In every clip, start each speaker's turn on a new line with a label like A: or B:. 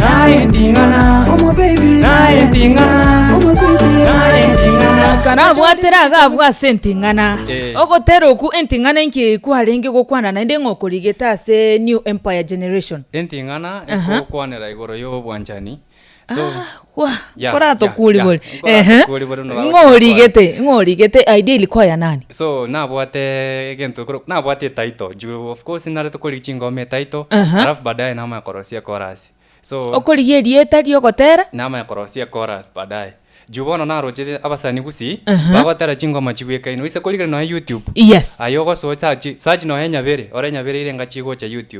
A: Naye nding'ana. Omobaby. Naye nding'ana. Omobaby. Naye nding'ana.
B: Karabwatere agabwa ase enting'ana Eh. ogotera okwo enting'ana enki eye kwarenge gokwana naende ng'a okorigete ase new empire generation Enting'ana Aha.
C: ekokwanera igoro y'obwanchani. So, Ah,
B: kwa Ya, ya, Koratokuribore. ya. Ehe. Nkoratokuribore no- Ng'o origete, ng'o origete idea ilikuwa ya nani? so nabwate
C: egento ekero- nabwate etaito juu of course narete korigia chingoma etaito Aha. alafu baadaye namanya korosia ekorasi so Okorigia erieta
B: riogotera? namanya korosia
C: ekorasi baadaye juu bono narochete abasani gusii Aha. bagotera chingoma chibwekaine gose korigire nonya youtube Yes. aye ogosoa
B: sachi
C: sachi nonya nyabere ore nyabere ire engachi egocha youtube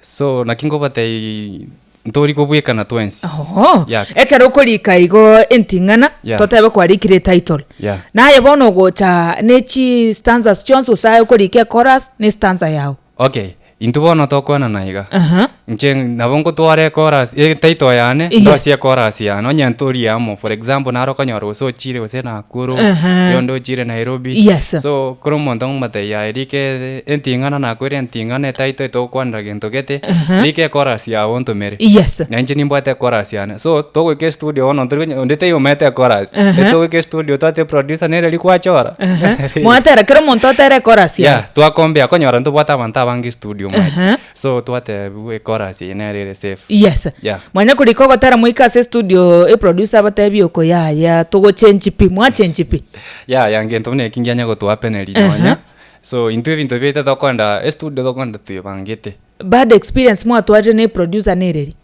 C: So, naki ngobatebi, ntori kobwekana twensi. Oho, Yaka. ekero
B: okorika igo enting'ana, Yeah. totebe kwarikire etitle. Yeah. Naye bono ogocha ne chi stanzas chionsi gose aye okorika echorus ne stanza yao. Okay, intwe
C: bono tokwanana iga. Aha. Inche nabo ngotwara echorus, etitle yane, Yes. ndosie echorus yane, onye ntorie amo, for example, naro okonyora gose ochire gose Nakuru, Aha. oyonde ochire Nairobi. Yes. So, kera omonto ngomotebi, yaya rika ere. Enting'ana nakwere enting'ana etaitoete gokwanera gento gete, rika ekorasi yao ontomere. Yes. Na inche nimbwate ekorasi yane. So, togoika estudio bono ontori konya onde taiyo omaete ekorasi. Ehe. Etogoika estudio twate eproducer nere riku achora. Ehe. Mwatera kera
B: omonto atere ekorasi yaye. Yeah, twakombea konyora ntobwate
C: abanto abange estudio mwaye. Ehe. So, twatebiwa ekorasi eye nere ere safe. Yes. Yeah. Mwanya korika
B: ogotera moika ase estudio eproducer abatebi oko yaya togochenchi pi, mwachenchi pi. Yeah, yeah, gento buna
C: eki ngianye gotohapeneria Ehe. nonya. So intwe ebinto biaito tokorenda estudio tokorenda toyebangete. Bad experience
B: mwatwarire ne producer nereri?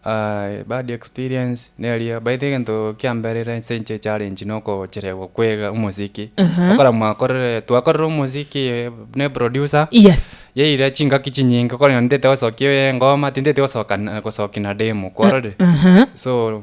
B: Aye
C: bad experience neria by the egento kia mbere ase inche challenge na ogocheregwa kwega omosiki. Okora mwakorire twakorire omosiki ne producer. Yes. Yaira chingaki chinyinge okore nonye ntete gosokia engoma tintete gosoka gosoki na demo kwarorire. So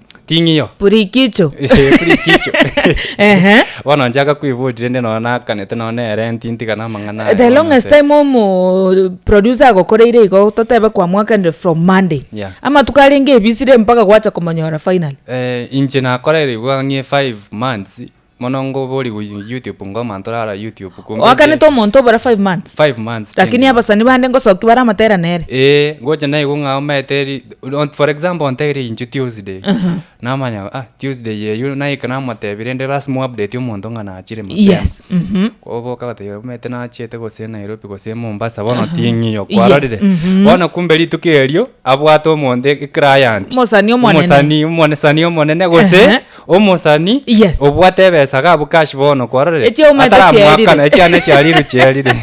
C: Ting'io. Purikicho. Eh,
B: Purikicho. Ehe.
C: Bono nchaka kwibori rende nonya nakanete nonya na erent ntiga na amang'ana aye The bono longest ase- time omo
B: producer agokoreire igo totebe kwamwakanire from Monday. Yeah. Amatuko arenge ebisire mpaka gwacha komonyora finally. Eh, inche
C: nakorerigwe ang'e five months Mono ng'o bori go YouTube ngoma ntorara YouTube kumbe nche. Oakanete omonto
B: obora five months. Five months Lakini chingima. abasani bande ngosoki baramotera nere. Ee, ngocha naigwe ng'a
C: omanyete ri- on- for example ontebirie inche Tuesday, namanya ah Tuesday eyio naika namotebia rende lasima oupdate omonto ng'a nachire mapema. Yes. Mhm.
B: Oboka goteba
C: omanyete nachiete gose Nairobi gose Mombasa bono ting'iyo Yes, kwarorire. mhm. Bono kumbe rituko erio abwate omonto e- eclient. Omosani omonene. Omosani
B: omone- sani
C: omonene gose. Ehe. Omosani Yes. obwate ebesa iga abwo cash bono kwarorire Echiauma ete ataramoakana
B: chiaerire. echiana
C: echiariru chiarire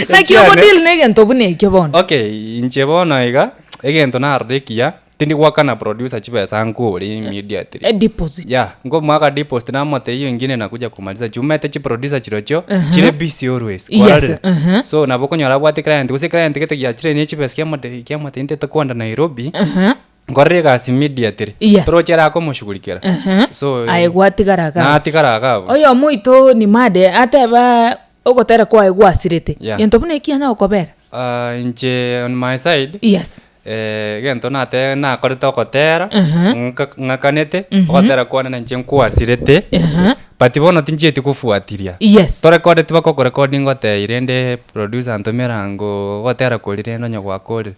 B: Naki Echiane- ogodeal na egento buna ekio bono. okay inche bono
C: iga egento narora ekiya tindi goakana producer chibesa nkore immediately A deposit. ya
B: nkomoaka deposit
C: namote hiyo ingine nakuja kumaliza juu mete chiproducer chirochio chire busy always Yes, kwarorire uh-huh. so nabo okonyora abwate client gose client gete giachire niye chibesa kiamote kiamote intete kwenda nairobi Aha. nkorere egasi immediately Yes. toro ochiere ake omoshugurikera Ehe. So, eh, aye gwatigara iga abwo.
B: natigara iga abwo.
C: oyo omoito
B: nimade ateba ogotera kwaye gwasirete Yeah. gento buna ekianya okobera Ah, inche
C: on my side yes eh, egento nate nakorete ogotera Aha. ng'aka- ng'akanete ogotera kwane na inche nkwasirete Aha. but bono tinchieti kofuatiria yes torekodeti bakokorekodinga otei rende Producer antomera ngo gotera kori rende onye gwakorire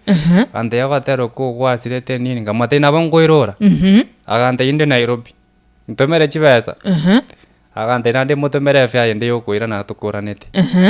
C: gantebia gotera oko gwasirete nini nkamotebia nabo nkoirora agantebia inde Nairobi ntomere chibesa agantebia naende motomere efare yende ya okoirana tokoranete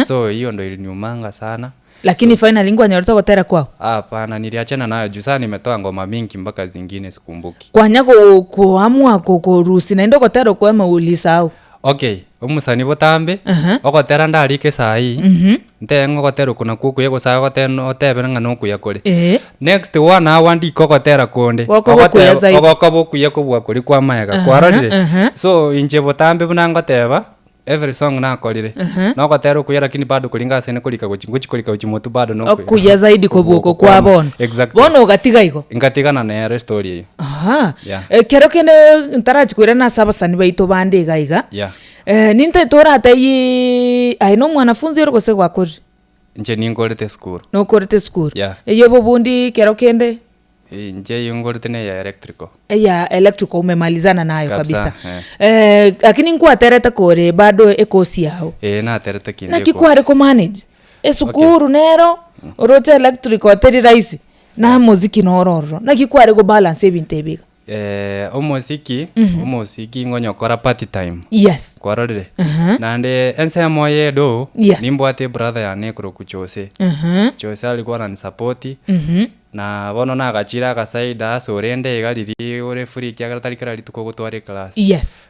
C: so hiyo ndo iliniumanga sana Lakini finally
B: nkwanyorete ogotera kwao? hapana niliachana
C: nayo juu saa nimetoa ngoma mingi mpaka zingine sikumbuki. Kwanya go-
B: koamua ko- korusia naende ogotera okoema ulisahau? Okay,
C: omosani botambe Aha. ogotera ndarike saa ii Mhm. ntee ng'a ogotera oko nakwo okuya gose aye ogotera no- otebere ng'a nokuya kore Ee. next one hour ndiko ogotera konde Gokoba Ogoteba- okuya zaidi. ogokoba okuya kobua koria kwa mayega Aha, kwarorire aha. so inche botambe buna ngoteba every song nakorire Aha. nogotera okuya lakini bado kori inga asene korika gochi ngochi korika gochi motu bado nokuya okuya zaidi kobua oko
B: kwa bono exactly bono ogatiga
C: igo
B: ngatigana nere
C: story eyio Aa, Yeah. ekero
B: kende ntarachi koirana ase abasani baito bande iga iga, Yeah. eh, nintete toratebie aye na omwanafunzi ore gose gwakorire, Inche ninkorete
C: esukuru. nokorete esukuru,
B: Yeah. eyio bobundi ekero kende Inche eyio
C: nkorete na eya electrical. eya electrical
B: umemalizana nayo kabisa, Kabisa, Eh, lakini nkwaterete kore bado ekosi yao Ee, naterete kende naki
C: ecourse. kware komanage
B: esukuru nero oroche electrical teri rahisi. Namosiki noro ororo. Naki kware go balance ebinto ebi iga. Eh, omosiki,
C: omosiki ngonyokora party time. Yes. Kwarorire?
B: Aha.
C: Naende ense emo ya edoo, Yes. nimbwate ebrother yane ekorokwa Jose. Aha. Jose ari koranisapoti, Mhm. na bono nagachire agasaida ase orende iga riria ore free ekiagera tari kera rituko ogotwara eclass. Yes.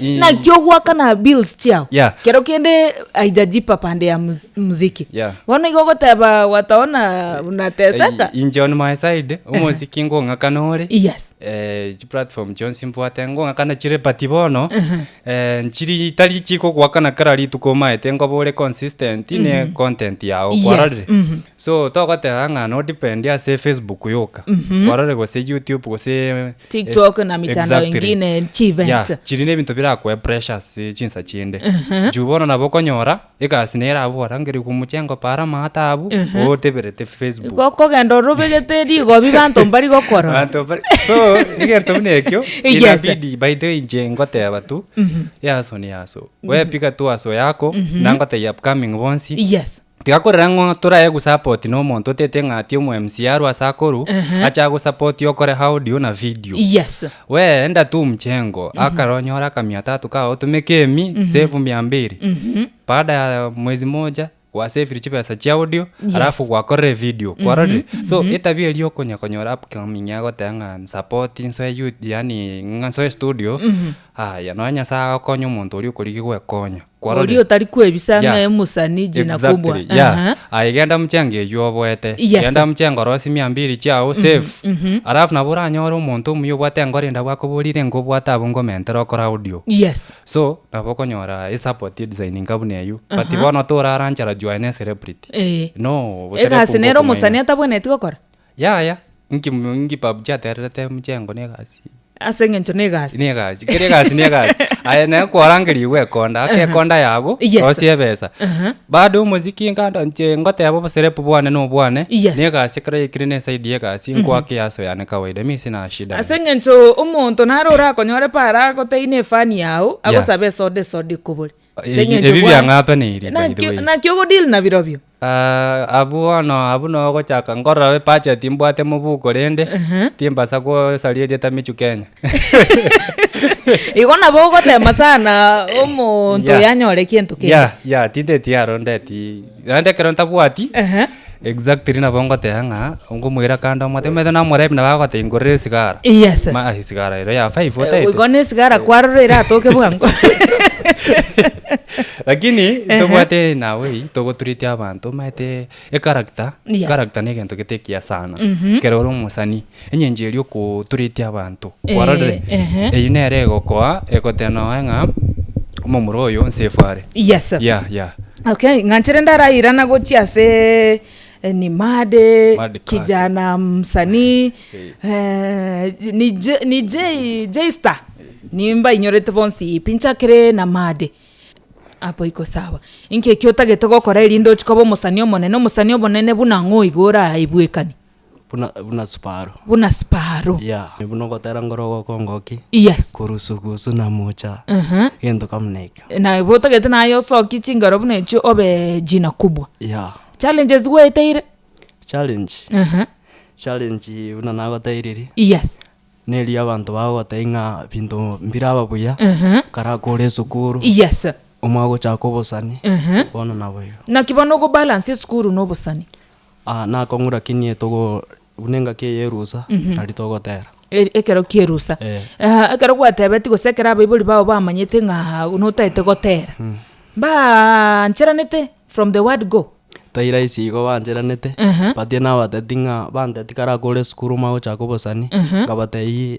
B: Eeh. Naki ogoakana bills chiao. Yeah. Kero kende haijajipa pande ya muz- muziki. Yeah. Bono igo ogoteba wataona unateseka. Eh, inche on my side
C: omosiki ngong'akana ore Yes. eh, chiplatform chionsi mbwate ngong'akana chire but bono eh, nchiri tari chikogoakana kera rituko omaete nkoba ore consistent ne content yao Yes, kwarorire mhm. so togoteba ng'a nodipendi ase facebook yoka kwarorire gose youtube gose TikTok na
B: mitandao exactly. ingine Yeah, chivent chiri nebinto birakoe
C: pressure ase chinsa chinde juu bono nabo okonyora egasi nere abwo orangerigwe omochengo para ama atabu oteberete facebook Go- kogenda orobegete
B: rigobi banto mbari gokorora Banto bari- so
C: egento buna ekio Yes. inabidi by the way inche ngoteba tu yaso ni yaso wepiga tu aso yako nangotebia upcoming bonsi yes Tiga korera ng'o toraye gusapoti nomonto otete ng'a ti omoMCA arwe ase akoru ache agosapoti okore audio na video. Yes. We enda tu mchengo akare onyore akamia tatu kao otume kemi save mia mbiri baada ya mwezi moja gwasavire chibesa chia audio Yes. alafu gwakorire video kwarorire so etabia eria okonya konyora upcoming agoteba ng'a nsapoti nsoe you- yaani ng'a nsoe studio aya nonya nyasaye agokonya omonto oria okorigia gwekonya. Oria otari
B: kwebisa ng'a Yeah. emosani jina kubwa. Exactly, yeah. Aha. Aye genda
C: mchenge eywo oboete Yes. genda mchenge orosie mia mbiri chiao safe alafu nabo oranyore omonto omuya obwate enkoro ende abwakoborire nko obwate abwo ngomentera okore audio Yes. so nabo okonyora esupport edesigning ka buna eywo but bono torara nchara jwaye ne celebrity Eh. no Egasi nere omosani
B: atabwenereti gokora? Yaya, inki mu-
C: inki PUBG atererete mchengo na egasi? ase eng'encho na egasi
B: Ne egasi, kera egasi ne
C: egasi. Aye naye kwarangeria igo ekonda, ake ekonda yago, Yes. rosia ebesa. Aha. Bado omosiki nkanda nche ngoteba oboserepu bwane na obwane, Yes. ne egasi ekero yaikire na esaidi ya egasi, nkwake easo yane kawaida, mi sina shida. ase eng'encho omonto
B: nare orakonyore paara agoteine efani yao agosabe esoda esoda ekobore Ase Ebi- eng'encho ebi bwaye.
C: biang'ataneirie, by the way. Naki- naki ogodeal
B: na birobio Ah, abwo bono
C: abwo nabo gochaka nkorora ebudget mbwate mobuko rende timbasa gosaria erieta michu kenya
B: igo nabo ogotema sana omonto Yeah. yanyore gento kende ya ya tinteti aro
C: ndeti Naende ekero ntabwati Ehe. exactly nabo ngoteba ng'a nkomoira kando omwate omanyete namorebi nabo agoteba ingorera esigara Yes. Ma- ah,
B: esigara
C: ero
B: ya five
C: Eh, otaete
B: Goika na
C: esigara
B: kwarora
C: eratoke bwango. lakini Ehe. tobwate nawe ii togotureti abanto omanyete echaracter Yes. echaracter na egento gete ekiya sana ekero ore omosani Enyancha eria okoturetie abanto kwarorire, eyio nere egokoa egotenooe ng'a omomura oyo onsi efwe are. Yes. Yeah,
B: yeah. Okay,
C: ng'anchire
B: ndarairana gochia ase eh, ni mad eh, Mad class. kijana msanii Eh. eh, ni J- ni J- J-Star nimbainyorete bonsi pi nchakire na mad apo iko sawa inki ekio otagete gokora erinde ochi koba omosani omonene omosani omonene buna ng'o iga oraibwekani. buna, buna
D: siparo. buna siparo. Yeah, buna ogotera
B: ngoro
D: ogokongoki, Yes. kurusu
B: gusu na
D: mucha, Ehe. gento kama na ekio. Na igo otagete
B: naye osokie chingero buna echio obe jina kubwa. Yeah, Challenges
D: gwaeteire?
B: challenge, Ehe.
D: challenge buna nagoteiriri, Yes.
B: neri abanto
D: bagogotebia ng'a binto mbiraba buya, Ehe. kare aka ore esukuru, Yes.
B: omwagochaka
D: obosani, Ehe. bono nabo igo. Naki bono ogobalance
B: esukuru na obosani? Aa, nakong'ura
D: ki niye togo, buna engaki eye y'erusa, tari togotera. E- ekero ki'erusa.
B: Eh. Aa, ekero gwatebetie gose ekero abaibori bao bamanyete ng'a notaete gotera, baancheranete from the word go? Tai rahisi igo
D: bancheranete, Ehe. but nabatebeti ng'a, bantebeti kare aka ore esukuru omagochaka obosani, nkabatebia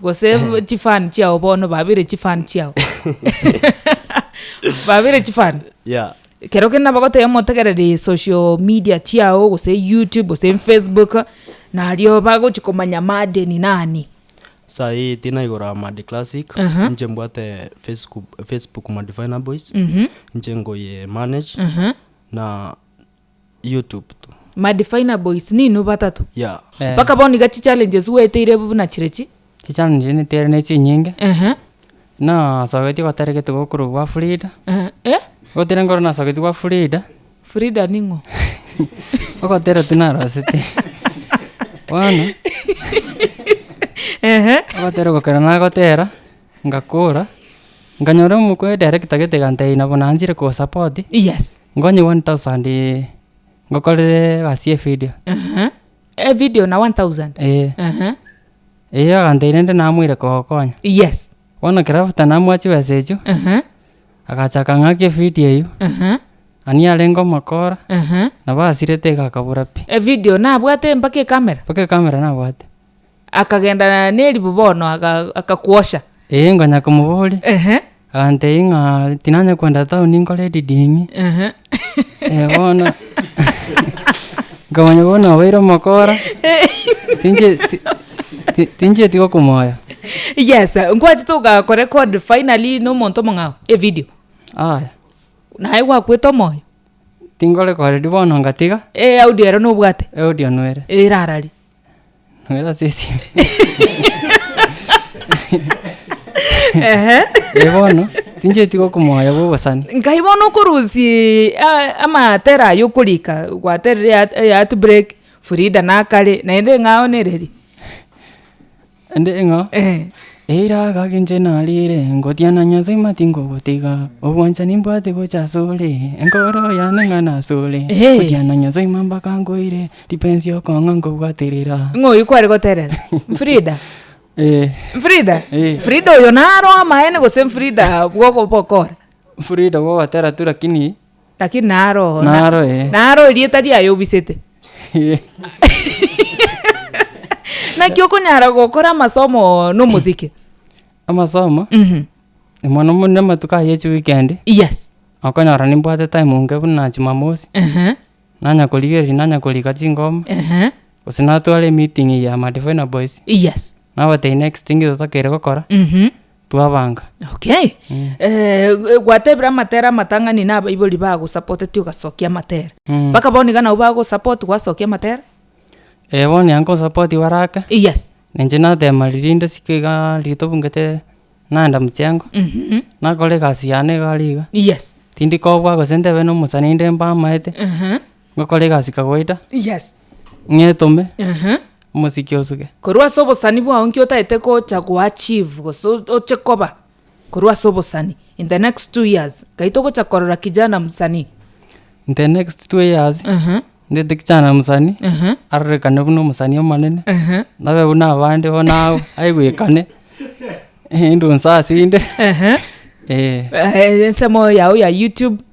B: Gose chi fan chiao bono babere chi fan chiao. Babere chi fan. Yeah. Kero
D: kende nabo goteba
B: motegereri social media chiao gose YouTube gose Facebook nario bagochi komanya Made ni nani. Saii
D: tinaigora Made Classic, Aha. inche mbwate Facebook, Facebook Madivina Boys, inche nkoye manage, na YouTube tu. Madifina boys
B: ninwe batato. Yeah. Eh. Mpaka bono
D: iga
B: chichallenges gweteire buna chire chi. Chichallenges niteire
E: ne chinyinge. Ehe. Buna asagoeti gotari gete gokorwa gwa Frida. Ehe. Eh? Gotire ngoro na asagoeti gwa Frida. Frida ning'o? Ogotera tu narosete. Bono. Ehe. Ogotera gokera nagotera. Ngakora. Nganyora omokwe director gete gantebia nabo nanchire ko support. Yes. Nkonye
B: one thousand
E: ngokorere egasi y'evideo. Ehe,
B: evideo na one thousand? Ee. Ehe. Eyio
E: agantebiria inde namoire kogokonya. Yes. Bono
B: ekero after
E: namoa chibesa echio, Ehe. agacha akang'aki evideo eyio, Ehe. ani arenge omokora, Ehe. nabo asirete iga akabura pi. Evideo nabwate
B: mpaka ekamera? Mpaka ekamera nabwate. Akagenda neribu bono aga- akakwosha. Ee, ngonya
E: komoboria. Ehe. Agantebia ng'a tinanya kogenda town nkore editing. Ehe. Eh, bono nkamanya bono obeire omokora, tinche- ti- ti- tincheti gokomoya. Yes,
B: nkwachete ogakorecord finally na omonto omong'ao evidio? Aya, Naye gwakwete omoyo? tinkorekoredi
E: bono ngatiga, Eaudio ero nobwate?
B: audio nwere.
E: Erarari.
B: Noera
E: ase esime. Ehe. Ee bono, tincheti gokomoya bw'obosani. Nkai bono okorusia
B: eh, amatere aye okorika gwaterire heart- eh, heartbreak, Frida nakare, naende ng'a aonereri.
E: Naende ng'a eira agagenche nariire, ngotiana Nyasae ng'a tinkogotiga, obwanchani mbwate gocha asore, enkoro yane ng'a nasore, ngotiana Nyasae ng'a mpaka nkoire, ripensi okong'a nkobwaterera. Ng'a oyio kware goterera.
B: Mfrida? Eh. Mfrida? Eh. Mfrida oyo naro amaene gose Mfrida bw'okobokora? Mfrida bw'ogotera
E: tu lakini Lakini naro oo, na- Naro ee.
B: naro erieta riaye obisete. Naki okonyara gokora amasomo oo na omosike. Amasomo,
E: Mhm. mono mono amatuko aya echi weekend, Yes.
B: okonyora nimbwate
E: time enke buna jumamosi, Ehe. nanya korigereria nanya korika chingoma, Ehe. gose natwara emeeting ya Madivine Boys, Yes. nabatebi
B: next
E: thing totokeire gokora, Mhm. Twabanga. Okay.
B: Mm. Eh, gwatebire amatere amatang'ani na abaibori bagosapoteti ogasokia amatere. Mm. Mpaka bono iga nabo bagosapoti gwasokia amatere? Eh, bono
E: ya nkosapoti baraka. Yes. Ninche
B: natema riria
E: rinde siko iga riria tobungete naenda mchengo. Mhm. Nakora egasi yane igare iga. Yes. Tindi
B: kobua gose
E: ntebe na omosani inde mbamaete. Ehe. Ngokora egasi kawaida, Yes. ng'etome, Ehe. omosike osuge. Korwa ase obosani
B: bwao nki otaete gocha goachieve gose o- oche koba korwa ase obosani in the next two years? Nkai togocha korora kijana msanii. In the
E: next two years, Ehe. ndete kijana msanii, Ehe. arorekane buna omosanii omonene, Ehe. nabe buna abande bono ao, aigwekane, eh, indunsa ase inde, Ehe. eh. Eh,
B: ensemo yao ya YouTube.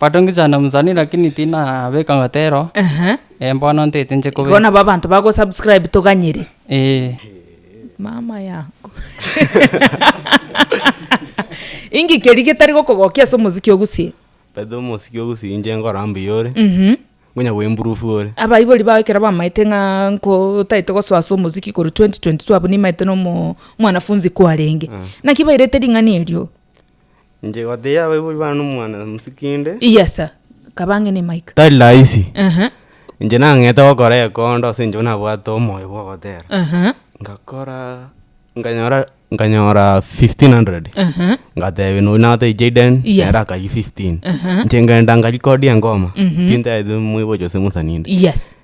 B: Batongichana
E: omusani lakini tinabeka ngotero Ehe. eh bono ntete nche Igo kobeka. nabo abanto bagosubscribe
B: toganyire. Eh. Mama yangu. Inki keria getari gokogokia ase omosiki ogusie? Title omosiki
F: ogusie inche nkora mbuya ore, Mhm. nkonya go improve ore. Abaibori bao ekero
B: bamaete ng'a nko otaete gosoa ase omosiki korwa 2022 abwo nimaete na omo omwanafunzi kwarenge. Naki bairete ring'ana erio? Inche
F: goteebia abaibori bane nomwana mosikinde. Yes
B: kaba ang'e ne mic. Tari rahisi. Ehe.
F: Inche nang'ete gokora ekondo ase eng'encho nabwate omoyo bwa ogotera. Ehe. Ngakora nkanyora nkanyora fifteen hundred. Ehe. Ngatebia nonya nabwate Jayden Yes. nere akarigia fifteen. Ehe. Inche nkagenda nkarecordia engoma. Ehe. Tintaete moibochi gose mosani inde. Yes.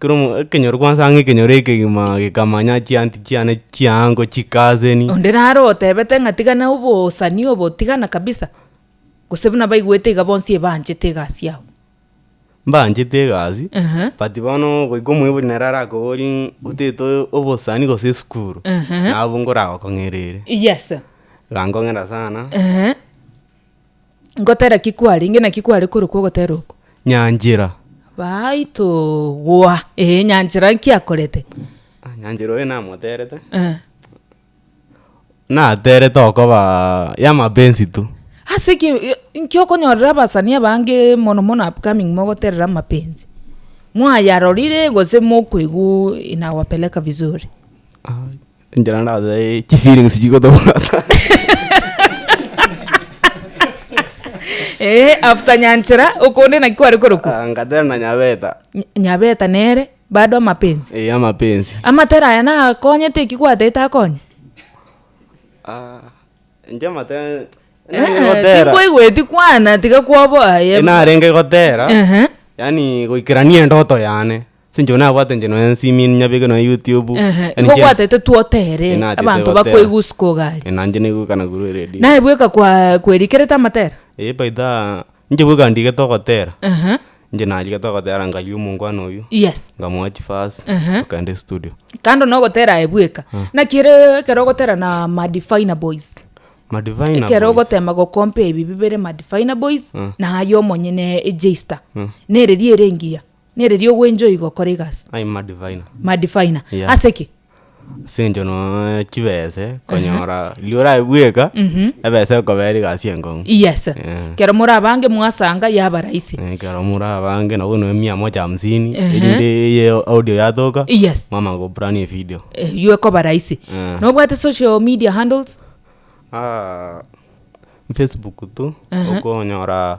F: Kero ekenyoro kwansa ang'e ekenyoro ekegima gekamanya chianti chiane chiaango chikaseni. Onde naro otebete
B: ng'a tigana obosani obo tigana kabisa, gose buna baigwete iga bonsi ebanchete egasi yao. Mbanchete
F: egasi, Ehe. but bono goika omoibori naro arakoborie ng'a otete obosani gose esukuru, Ehe. nabo nkoragokong'era ere. Yes.
B: Iga nkong'era
F: sana. Ehe.
B: Ngotera ki kwarenge, naki kware korokwa ogotera oko? Nyanchera. Baitogwa, ee nyanchera nki akorete? Ah nyanchera
F: oyo namoterete, Eh. naterete okobaa yamapenzi tu. Ase ki i-
B: inki okonyorera abasani abange mono mono upcoming mogoterera amapenzi? Mwayarorire gose mokoigwa inawapeleka vizuri? Aai.
F: Enchera nabe chifeelings chigotobwata.
B: Eh, after nyanchera okonde naki kware korokwa Ah, ngatera na nyabeta.
F: Ny- nyabeta
B: nere bado amapenzi Eh, amapenzi.
F: amatera aya
B: nakonyete ekio gwataete akonye Ah,
F: inche amate- Eh, narenge eh, gotera.
B: tinkoigweti kwana tiga kwaboa aye Narenge
F: gotera. Ehe. Yaani goikerania endoto yane. Sinche onye nabwate inche nonye nsimie nyabeke nonye youtube. Ehe, Yaani igo inche- gwataete
B: twotere Eh, natete abanto gotera. bakwe egusuka ogari. Eh, nanje naigwekana korwa
F: eredio. Naye bweka kwa-
B: kwerikerete amatera? Eh, by the,
F: inche bweka ndigete ogotera, Ehe, inche narigete ogotera nkaria omongwana oyio, yes. nkamoa
B: chifasi,
F: Ehe. tokenda estudio. Kando na ogotera
B: aye bweka, naki ere ekero ogotera na madivina boys, Madivine na
F: ekero boys. ogotema gokompea
B: ebi bibere madivina boys na aye omonyene ejeister, na ereria ere engiya. Nere ri'ogwencho igo okore egasi. I am madiviner.
F: Madiviner.
B: Yeah. Ase ki? Ase eng'encho
F: nonya chibese, konyora riria orabe bweka, ebese ekobera egasi enkong'u. Yes. Eh.
B: Kero morabange mwasanga yaba rahisi. Eh, ekero morabange
F: nabo nonya mia moja hamsini, Ehe. erinde eye audio yatoka, Yes. mwamanya koburana
B: evideo.
F: Eyio ekoba rahisi.
B: Eh. Nobwate social media handles? Ah,
F: Facebook tu, Ehe. okonyora.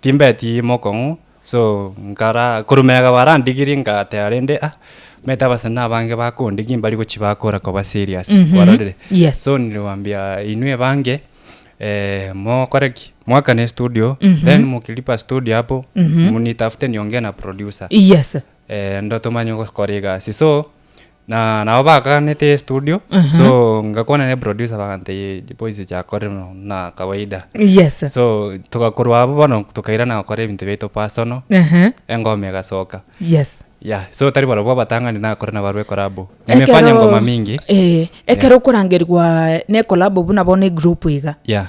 C: Timbeti mokong'u so nkara korwa mega barandigirie ngateba rende ah omanyete abasani abange bakondigia mbari gochia bakora koba serious ororire Yes. so nire goambia inwe abange eh, mokore ki mwakane studio then mokiripa studio apo nitafute niongee na producer Yes. eh, ndo tomanye gokora egasi so Na nabo bakaganete estudio so ngakwana ne producer bagantebia boys chakore no na kawaida yes so togakorwa abo bono tokairana gokora ebinto biaito personal Ehe. engoma egasoka yes yeah so tari barabwo abatang'ani nakore nabo arwe ekorabo nimefanya Ekero- ngoma mingi eh, ekero
B: okorangerigwa nekolabo buna bono egroup iga yeah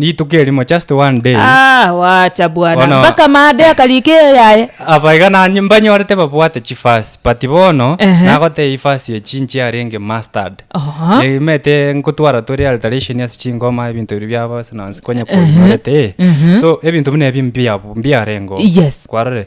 C: Rituko erimo, just one day. Ah, wacha
B: bwana Bono- mpaka made akarika eyo yaye Aba iga nanye
C: mbanyorete babwate chifasi but bono Ehe. nagoteba ifasi echi inche yarenge mustard Aha. imete nkotwara tore alteration ase chingoma ebinto biria biabo ase nonsi konya kwanyorete so ebinto buna ebi mbiabu mbiarengo Yes. kwarore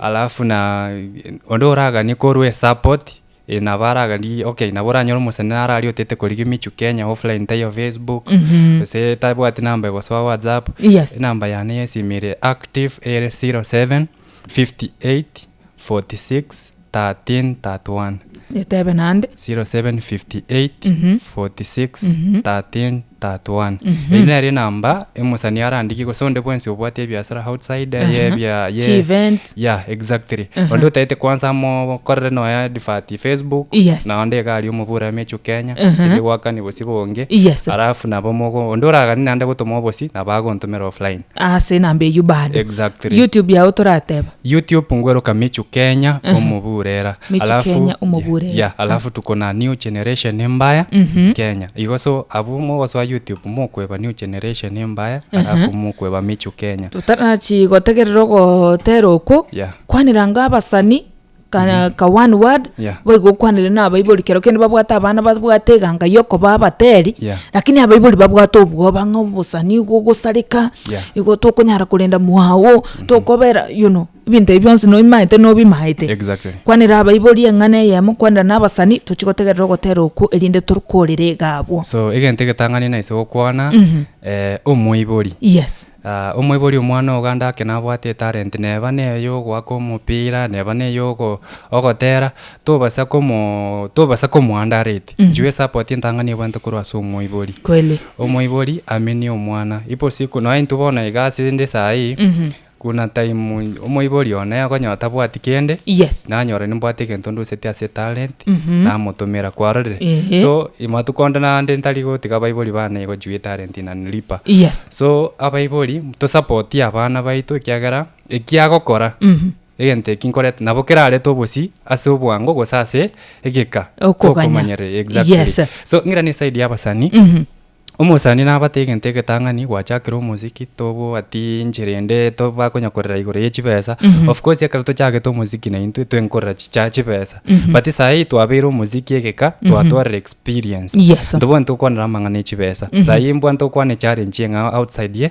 C: alafu na onde oraganie korwa esupport e, nabo aragani okay nabo oranyore omosani naro aria otete korigia michu kenya offline taiyo facebook gose tabwati namba egosoa whatsapp Yes. enamba yane yesimi ere active ere 07 58 46 13:31. Etebe naende. 0758461331 Eyio nere enamba emosani arandikie gose onde bwensi obwate ebiasara outside eye Aha. ebia ye Chievent. yeah
B: exactly
C: onde otaete kwansa amokorere nonya advert Facebook Yes. na onde iga aria omobura Emechu Kenya Aha. tari gwakani bosio bonge Yes. alafu nabo mogo onde oragani naende gotoma obosi nabo agontomera offline Ase enamba eyio
B: bande. Exactly. YouTube
C: yago torateba.
B: YouTube ngweroka
C: Michu Kenya omoburera. Michu Alafu- Kenya yeah,
B: omoburera. yeah, alafu
C: tuko na new generation embaya Kenya. Igo so abwo mogosoa YouTube mokweba new generation embaya alafu mokweba Michu Kenya. tutarachi gotegerera
B: ogotera okwo Yeah. kwanera nga abasani ka, ka one word Yeah. boigo okwanire na abaibori kero kende babwate abana babwate eganga yokoba abateri Yeah. lakini abaibori babwate obwoba ng'a obosani igo ogosareka Yeah. igo tokonyara korenda mwago tokobera you know ebinto ebi bionsi nobimaete nobimaete Exactly. kwanera
C: abaibori
B: eng'ana eyemo kwanera na abasani tochi gotegerera ogotera okwo erinde tokorera iga abwo so egento egetang'ani
C: naise gokwana Mhm. eh, omoibori yes
B: Ah, omoibori omwana
C: oganda ake nabwate etalent neba neye ogoaka omopira neba neye ogo- ogotera Tobasa komo tobasa komoanda arete. Mhm. Nchwe support entang'ani ebwante korwa ase omoibori. Kweli. Omoibori
B: amenie
C: omwana. Ipo siku noe intwe bono iga ase inde saa ii, Mhm. kuna time omoibori one akonyora tabwati kende, Yes. nanyora
B: nimbwate egento
C: nduseti ase talent, Mhm. namotomera. Kwarorire? Ehe. So, matuko onde na ande ntari gotiga abaibori bane igo juu etalent inanilipa. Yes. So,
B: abaibori,
C: tosapotie abana baito ekiagera, ekiagokora, Mhm. Egento eki nkorete nabo kerarete obosii ase obwango gose ase egeka Okoganya.
B: exactly Yes.
C: so ng'ira ne
B: side ya
C: abasani omosani nabate egento egetang'ani gwachakire omosiki tobwati enchera ende to bakonya korera igoro ye chibesa of course ekero tochagete omosiki na intwe twenkorera chicha chibesa but saii twabeire omosiki egeka twatwarire experience Yes. ntobono tokwanera
B: amang'ana
C: e chibesa saii mbwani tokwana echallenge eng'ao outside ye.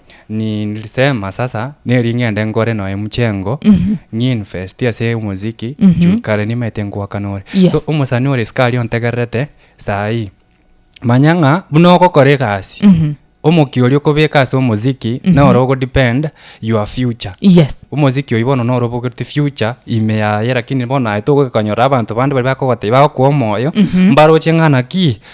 C: nilisema sasa neri ng'ende nkore noe mchengo ng'investi ase omoziki juu kare nimaete ngoakana ore Yes. so omosani ore sikari ontegererete saii manya ng'a buna ogokora egasi omokia oria okobeka ase omoziki noro ogodepend your future yes omoziki
B: oyio bono noro
C: obogete future ime yaye lakini bono aye togokonyora abanto bande bari bakogotebi bagokoa omoyo mbaroche ng'a naki